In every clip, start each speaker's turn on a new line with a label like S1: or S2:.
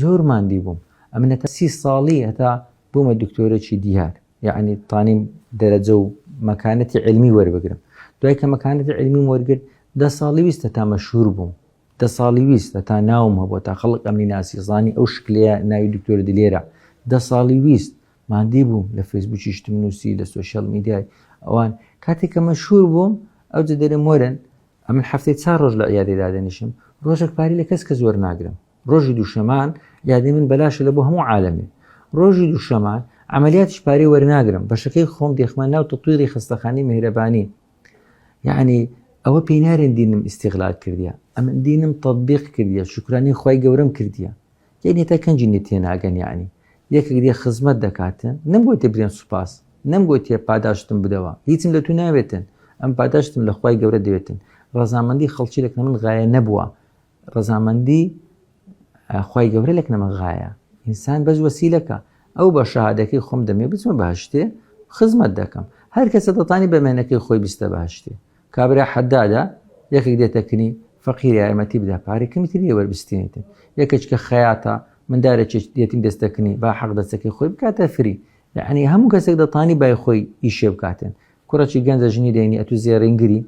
S1: زۆر ماندی بووم ئەمنەتە سی ساڵی هەتا بوومە دکتۆرەی دیار یعنی تانیم دەرەجە و مەکانەتی علمی وەربگرم دوای کە مەکانەتی علمی وەرگرت دە ساڵی ویستە تا مەشهور بووم دە ساڵی ویستە تا ناوم هەبوو تا خەڵک ئەمنی ناسی زانی ئەو شکلەیە ناوی دکتۆر دلێرە دە ساڵی ویست مادی بووم لە فەیسبوکی شتم نووسی لە سوۆشیال میدیای ئەوان کاتێک کە مەشهور بووم ئەو جدەرە مۆرن ئەمن هەفتەی چار ڕۆژ لە عیادەی دادەنیشم، ڕۆژێک پارەی لە کەس کەس وەرناگرم. ڕۆژی دووشەمان عیادەی من بەلاشە لە بۆ هەموو عالەمێ. ڕۆژی دووشەمان عەمەلیاتیش پارەی وەرناگرم، بەشەکەی خۆم دێخمە ناو تەتویری خەستەخانەی مێهرەبانی. یەعنی ئەوە پێی نارێن دینم ئیستیغلال کردیە، ئەمن دینم تەتبیق کردیە، شوکرانەی خوای گەورەم کردیە. یەک نێتە کەنجی نێ تێناگەن یەعنی یەکێک دێ خزمەت دەکاتن نەمگۆتێ برێن سوپاس نەمگۆتێ پاداشتم بدەوە هیچم لە تو ناوێتن ئەم پاداشتم لە خوای گەورە دەوێتن ڕەزامەندی خەڵکی لەکنە من غایە نەبووە ڕەزامەندی خوای گەورە لەک نەمە غایە ئینسان بەس وەسیلەکە ئەو بە شەهادەکەی خۆم دەمێ بچمە بەهشتێ خزمەت دەکەم هەر کەسە دەتانی بەمێنەکەی خۆی بستە بەهشتێ کابرا حەدادە یەکێک دێتە کنی فەقیر یارمەتی بدا پارەی کەمی تر نیە وەربستێنێتن یەکێک کە خەیاتە مندارێکێک دێتیم دەستەکنی با حەق دەستەکەی خۆی بکاتە فری یعنی هەموو کەسێک دەتانی بای خۆی ئیشێ بکاتن کوڕەکی گەنجە ژنی دێنی ئەتو زێڕینگری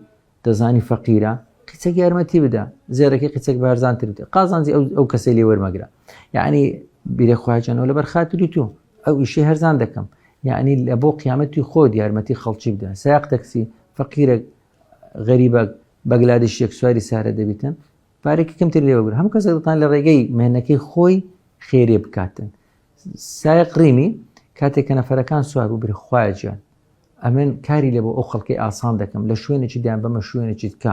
S1: دەزانی فەقیرە قیچەک یارمەتی بدە زێرەکەی قیچەک بارزانتر بدە قازانجی ئەو کەسەی لێ وەرمەگرە یعنی بیرە خواجانەوە لەبەر خاتری تۆ ئەو ئیشی هەرزان دەکەم یعنی لە بۆ قیامەتی خۆت یارمەتی خەڵکی بدە ساق تەکسی فەقیرە غەریبە بەگلادش یەک سواری سارە دەبیتن پارێکی کەمتر لێوەگر هەم کەسە دڵان لە ڕێگەی مێنەکەی خۆی خێرێ بکاتن سایق ڕیمی کاتێک کە نەفرەکان سوار و برخواجان ئەمن کاری لە بۆ ئەو خەڵکی ئاسان دەکەم لە شوێنێکی دیان بەمە شوێنێکی کە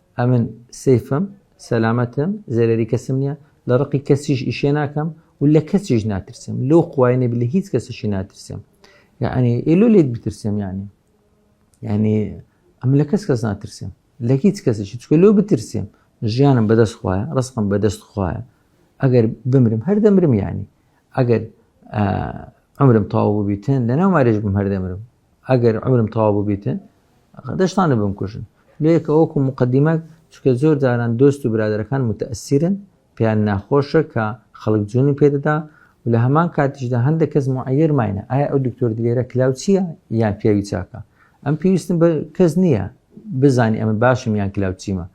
S1: ئەمن سەیفم سەلامەتم زەرەری کەسم نییە لە ڕقی کەسیش ئیشێ ناکەم و لە کەسیش ناترسم لۆ خوایێنێ بلە هیچ کەسیشی ناترسم یعنی ئێلو لێت بترسم یعنی یعنی ئەم لە کەس کەس ناترسم لە هیچ کەسیشی چکە لۆ بترسم ژیانم بەدەست خوایە ڕستم بەدەست خوایە ئەگەر بمرم هەر دەمرم یعنی ئەگەر ئەمرم تاو ببیتن لە ناو مارێژ بم هەر دەمرم ئەگەر عمرم تەوا ببیتن دەشتانە بمکوژن لەیەکە وەکو مقدمە چکە زۆر جاران دۆست و برادەکان متەسیرن پێیان ناخۆشە کە خەڵک جوونی پێدەدا و لە هەمان کاتیشدا هەندێک کەس معەر ماینە ئایا ئەو دکتۆر دلێرە کلااو چییە یان پیاوی چاکە ئەم پێویستم بە کەس نییە بزانانی ئەمە باشم یان کلااو چیمە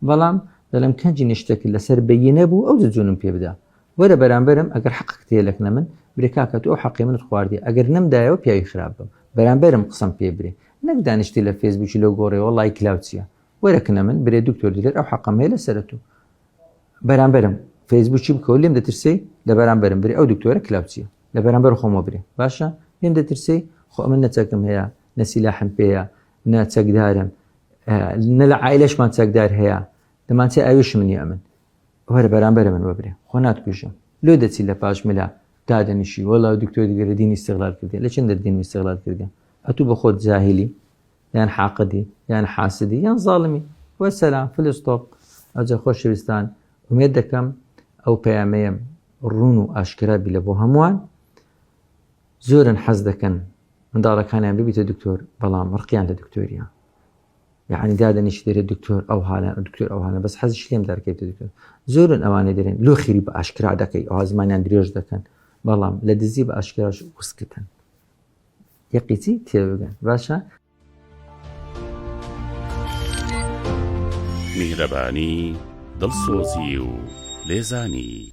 S1: بەڵام دەڵم کەنجی نیشتەکرد لەسەر بەینە بوو ئەو جوونم پێ بدا وەرە بەرامبەرم ئەگەر حەقەکت هەیە لەکنە من برێ کاکە تۆ ئەو حەقەی منت خواردیە ئەگەر نەمدایەوە پیاوی خراپ بم بەرامبەرم قسەم پێ برێ نەک دانیشتی لە فێسبوکی لەو گۆڕێەوە ڵایک لاو چیە وەرە کنە من برێ دکتۆر دلێر ئەو حەقەم هەیە لەسەرە تۆ بەرامبەرم فێسبوکی بکەوە لێم دەترسەی لە بەرامبەرم برێ ئەو دکتۆرە کلااو چیە لە بەرامبەر خۆمە برێ باشە لێم دەترسەی خۆ ئەمە نەچەکم هەیە نەسیلاحم پێەیە نە چەکدارم نە لە عیلەشمان چەکدار هەیە دەمانچە ئەویش منی ئەمن ئەوە لە بەرامبەر من وەبرێ خۆ ناتکوژم لۆ دەچی لە پاش ملا دادەنیشی وەڵا و دکتۆری گەرە دینی استغلال کردی لە چندر دینی استغلال کردی ئەتوو بە خۆت جاهلی یان حاقدی یان حاسدی یان زاڵمی وە سەسلام فلستۆپ ئەجە خۆشەویستان ومێت دەکەم ئەو پەیامەیەم ڕون و ئاشکرابی لە بۆ هەمووان زۆرن حەز دەکەن منداڵەکانیان ببیتە دکتۆر بەڵام ڕقیان لە دکتۆریان یەعنی دادەنیشی دەرێ دکتۆر ئەو هاە دکتۆر ئەو هاە بەس حەزیش لێم دەرکەێت دکتۆر زۆرن ئەوانە دەێن لۆ خیری بە ئاشکرا دەکەی ئەو زمانیان درێژ دەکەن بەڵام لە دزی بە ئاشکراش وسکتن یەقیچی تێبگەن باشە
S2: میهرەبانی دڵسۆزی و لێزانی